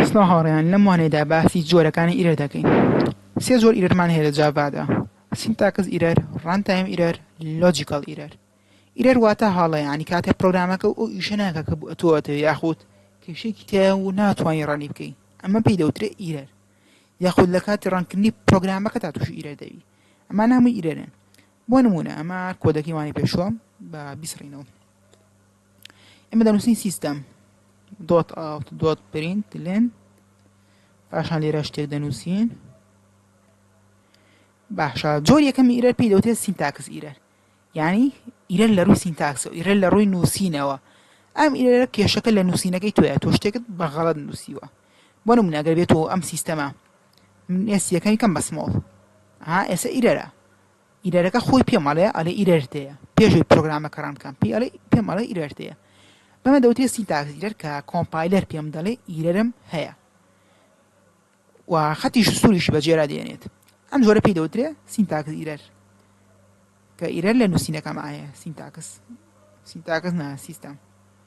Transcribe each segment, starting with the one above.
سڵاو هاوڕێیان لەم وانەیەدا باسی جۆرەکانی ئیرەر دەکەین سێ جۆر ئیرەرمان هەیە لە جاڤادا سینتاکس ئیرەر ڕان تایم ئیرەر لۆجیکەڵ ئیرەر ئیرەر واتە هەڵە یعنی کاتێ پرۆگرامەکە و ئەو ئیشە ناکە کە بۆ ئەتۆ ئەتەوێ یاخود کێشەیەکی تایە و ناتوانانی ڕەنی بکەی ئەمە پێی دەوترێ ئیرەر یاخود لە کاتی ڕەنکردنی پرۆگرامەکە تا تووشی ئیرەر دەبی ئەمە ناموی ئیرەرن بۆ نمونە ئەمە کۆدەکەی وانەی پێشووە بە بیسڕینەوە ئێمە دەنووسین سیستەم دۆت ئاوت دۆت پرینت لێن پاشان لێرە شتێک دەنووسین باشە جۆر یەکەمی ئیرەر پێی دەوتێت سینتاکس ئیرەر یعنی ئیرەر لە ڕووی سینتاکس و ئیرەر لە ڕووی نووسینەوە ئەم ئیرەرە کێشەکە لە نووسینەکەی تۆە تۆ شتێکت بە غەڵت نووسیوە بۆ نمونە ئەگەر بێتەوە ئەم سیستەمە من ئێس یەکەمی کەم بەسمۆڵ ها ئێسە ئیرەرە ئیرەرەکە خۆی پێم ئەڵێ ئەڵێ ئیرەر تێیە پێشەوەی پرۆگرامەکە ڕان بکەم پێی ئەڵێ پێم ئەڵێ ئیرەر تێیە بەمە دەوترێت سینتاکس ئیرەر کە کۆمپایلەر پێم دەڵێ ئیرەرم هەیە و خەتیش سووریشی بەجێرا دێنێت ئەم جۆرە پێی دەوترێ سینتاکس ئیرەر کە ئیرەر لە نووسینەکەم ئاە سینتاکس سینتاکس نا سیستەم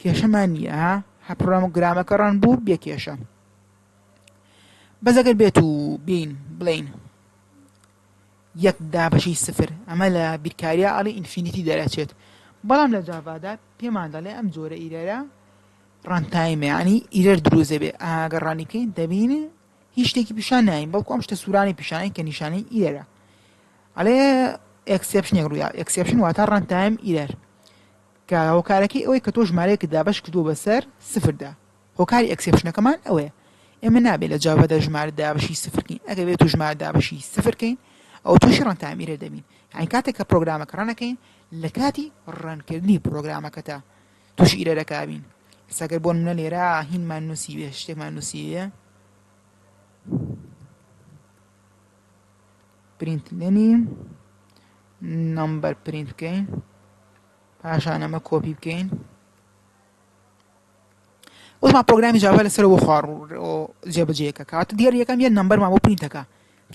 کێشەمان نیە ها هەر پڕۆمگرامەکە ڕەن بوو بێ کێشە بەس ئەگەر بێت و بین بڵین یەک دابەشی سفر ئەمە لە بیرکاریە ئەڵی ئینفینیتی دەرەچێت بەڵام لە جاڤادا پێمان دەڵێ ئەم جۆرە ئیرەرە ڕانتایمەیانی ئیرەر دروزێ بێ ئاگەر ڕانی بکەین دەبین هیچ شتێکی پیشان ناین بەڵکو ئەم شتە سوورانی پیشانین کە نیشانەی ئیرەرە ئەڵێ ئەکسپشنێک ڕوویا ئەکسپشن واتە ڕانتایم ئیرەر کە هۆکارەکەی ئەوەی کە تۆ ژمارەیەکت دابەش کردووە بەسەر سفردا هۆکاری ئەکسێپشنەکەمان ئەوەیە ئێمە نابێت لە جاڤادا ژمارە دابەشی سفر کەین ئەگەر بێت و ژمارە دابەشی سفر کەین ئەو تووشی ڕەنتایم ئیرەر دەبین یعنی کاتێک کە پرۆگرامەکە ڕەنەکەین لە کاتی ڕەنکردنی پرۆگرامەکەتا تووشی ئیرەرەکە بین سەگەر بۆ نمونە لێرە هینمان نووسیوێ شتێکمان نووسیوێ پرینت لێنی نمبەر پرینت بکەین پاشان ئەمە کۆپی بکەین وەما پرۆگرامی جاوا لەسەر بۆ خوار جێبەجێکە کاتە دیێر یەکەم یە نمبەرمان بۆ پرینتەکە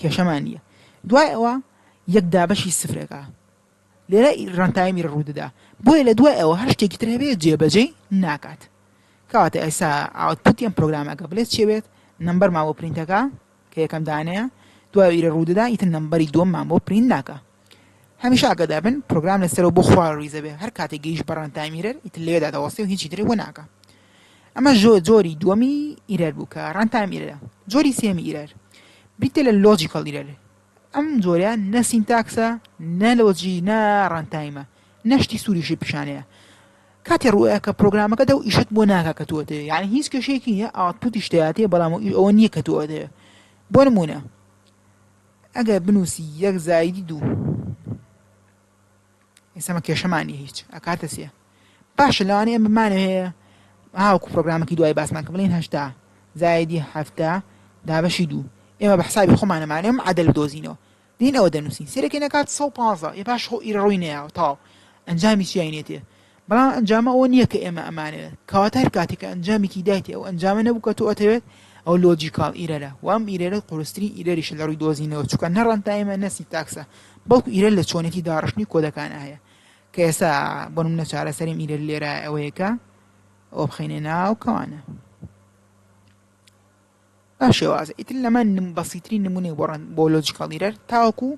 کێشەمان نیە دوای ئەوە یەک دابەشی سفرەکە لێرە رەنتایمی روودەدا بۆیە لە دوای ئەوە هەر شتێکی تر هەبێت جێبەجێی ناکات کەواتە ئێستا ئاوتپوت یان پرۆگرامەکە بلێت چێ بێت نمبەر ماوە پرینتەکە کە یەکەم دانەیە دوای ئیرە روودەدا ئیتر نمبەری دووەم مان بۆ پرینت ناکە هەمیشە ئاگەدا بن پرۆگرام لەسەرەوە بۆ خوار ریزە بێ هەر کاتێک گەیش بەڕەن تامیرەر ئیتر لێدا دەوەستی و هیچی تر بۆ ناکە ئەمە ژۆ جۆری دووەمی ئیرەر بوو کە ڕەن تامیرەرە جۆری سێمی ئیرەر بریتە لە لۆجیکەڵ ئیرەر ئەم جۆرە نە سینتاکسە نە لۆجی نە ڕەنتایمە نە شتی سووریشی پیشانەیە کاتێ ڕووە کە پرۆگرامەکە دە و ئیشت بۆ ناکە کە تۆتێ یان هیچ کێشێکی نیە ئاوتپوتی شتاتێ بەڵام ئەوە نییە کە تۆتێ بۆ نمونە ئەگەر بنووسی یەک زایدی دوو ئێسمە کێشەمان نیە هیچ ئەکاتە سێ باشە لەوانەیە ئەم بمانە هەیە هاوکو پرۆگرامەکەی دوای باسمان کە بڵین هەشتا زایدی هەفتە دابەشی دوو ئێمە بە حسابی خۆمانەمانێ ئەم عادل بدۆزینەوە دین ئەوە دەنووسین سیرەکەی نەکات سە پازە ێ باش خۆ ئیرڕووی نەیەوە تاو ئەنجامی چیای نێتێ بەڵام ئەنجامە ئەوە نییە کە ئێمە ئەمانەوێت، کەواتە هەر کاتێک کە ئەنجامێکی دایتی ئەو ئەنجامە نەبوو کە تۆ ئەتەوێت، ئەوە لۆجیکاڵ ئیرەرە، و ئەم ئیرەرە قورسترین ئیرەریشە لە ڕووی دۆزینەوە، چونکە نە ڕەنتایمە نە سینتاکسە، بەڵکو ئیرەر لە چۆنێتی داڕشتنی کۆدەکانا هەیە، کە ئێستا بۆ نموونە چارەسەری ئەم ئیرەر لێرە ئەوەیە کە ئەوە بخەینە ناو کەوانە. بە شێوازە ئیتر لەمە نم بەسیترین نمونەی بۆ ڕەن بۆ لۆجیکەڵ ئیرەر تاوەکو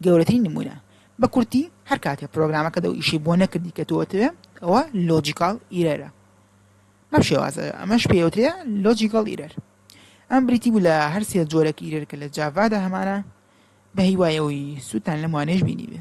گەورەترین نمونە بە کورتی هەر کاتێ پرۆگرامەکە دەو ئیشەی بۆ نەکردی کە تۆ ئەتەوێ ئەوە لۆجیکاڵ ئیرەرە بەم شێوازە ئەمەش پێوترێ لۆجیکەڵ ئیرەر ئەم بریتی بوو لە هەر سێ جۆرەک ئیرەر کە لە جاڤادا هەمانە بە هیوای ئەوەی سوودتان لەم وانەیەش بینیبێ